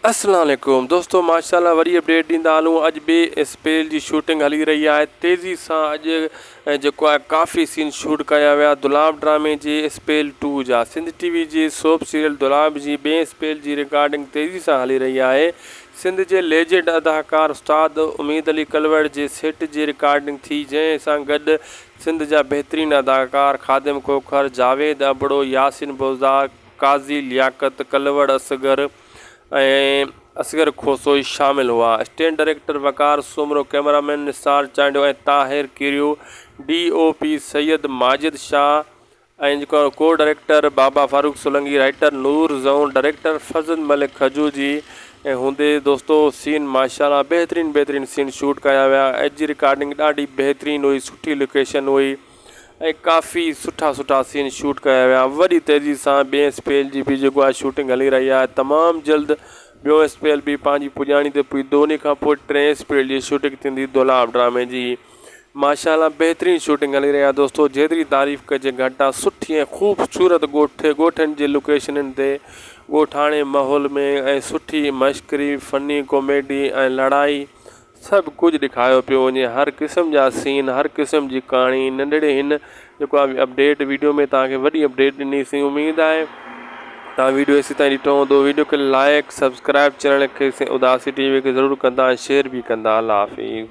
السلام عليڪم دوستو ماشاءالله وري اپڊيٽ ڏيندا هلون اڄ ٻي اسپيل جي شوٽنگ هلي رهي آهي تيزي سان اڄ جيڪو آهي ڪافي سين شوٽ ڪيا ويا دولاب ڊرامي جي اسپيل ٽو جا سنڌ ٽي وي جي سوپ سيريل دولاب جي ٻئي اسپيل جي رڪارڊنگ تيزي سان هلي رهي آهي سنڌ جي ليجنڊ اداڪار استاد اميد علي ڪلوڙ جي سيٽ جي رڪارڊنگ ٿي جنهن سان گڏ سنڌ جا بهترين اداڪار خادم کوکر جاويد ابڙو ياسين بوزدار قاضي لياقت، ڪلوڙ اصغر ۽ اصغر کوسوئي شامل هئا. Stand director Waqar Soomro, camera man Nisar Chandio ۽ Tahir Kerio, D O P Syed Majid Shah ۽ co director Baba Farooq Solangi, writer Noor Zaun, director Farzand Malik کجوجي ۽ هوندي دوستو سين ماشاءالله بهترين بهترين سين شوٽ ڪيا ويا اڄ جي رڪارڊنگ ڏاڍي بهترين هئي سٺي لوڪيشن هئي. ۽ ڪافي سٺا سٺا سين شوٽ ڪيا ويا وڏي تيزي سان ٻئي اسپيل جي به جيڪو آهي شوٽنگ هلي رهي آهي تمام جلد ٻيو اسپيل به پنهنجي پڄاڻي تي پڄندو انهي کان پوء ٽئين اسپيل جي شوٽنگ ٿيندي دولاب ڊرامي جي ماشاء الله بهترين شوٽنگ هلي رهي آهي دوستو جيتري تعريف ڪجي گهٽ آهي سٺي ۽ خوبصورت ڳوٺ ڳوٺن جي لوڪيشنن تي ڳوٺاڻي ماحول ۾ ۽ سٺي مشڪري فني ڪاميڊي ۽ لڙائي سڀ ڪجهه ڏيکايو پيو وڃي هر قسم جا سين هر قسم جي ڪهاڻي ننڍڙي هن جيڪو آهي اپڊيٽ ويڊيو ۾ توهان کي وڏي اپڊيٽ ڏني سين اميد آهي توهان ويڊيو ايسي تائين ڏٺو هوندو ويڊيو کي لائيڪ سبسڪرائيب چينل کي سين اداسي ٽي وي کي ضرور ڪندا ۽ شيئر به ڪندا الله حافظ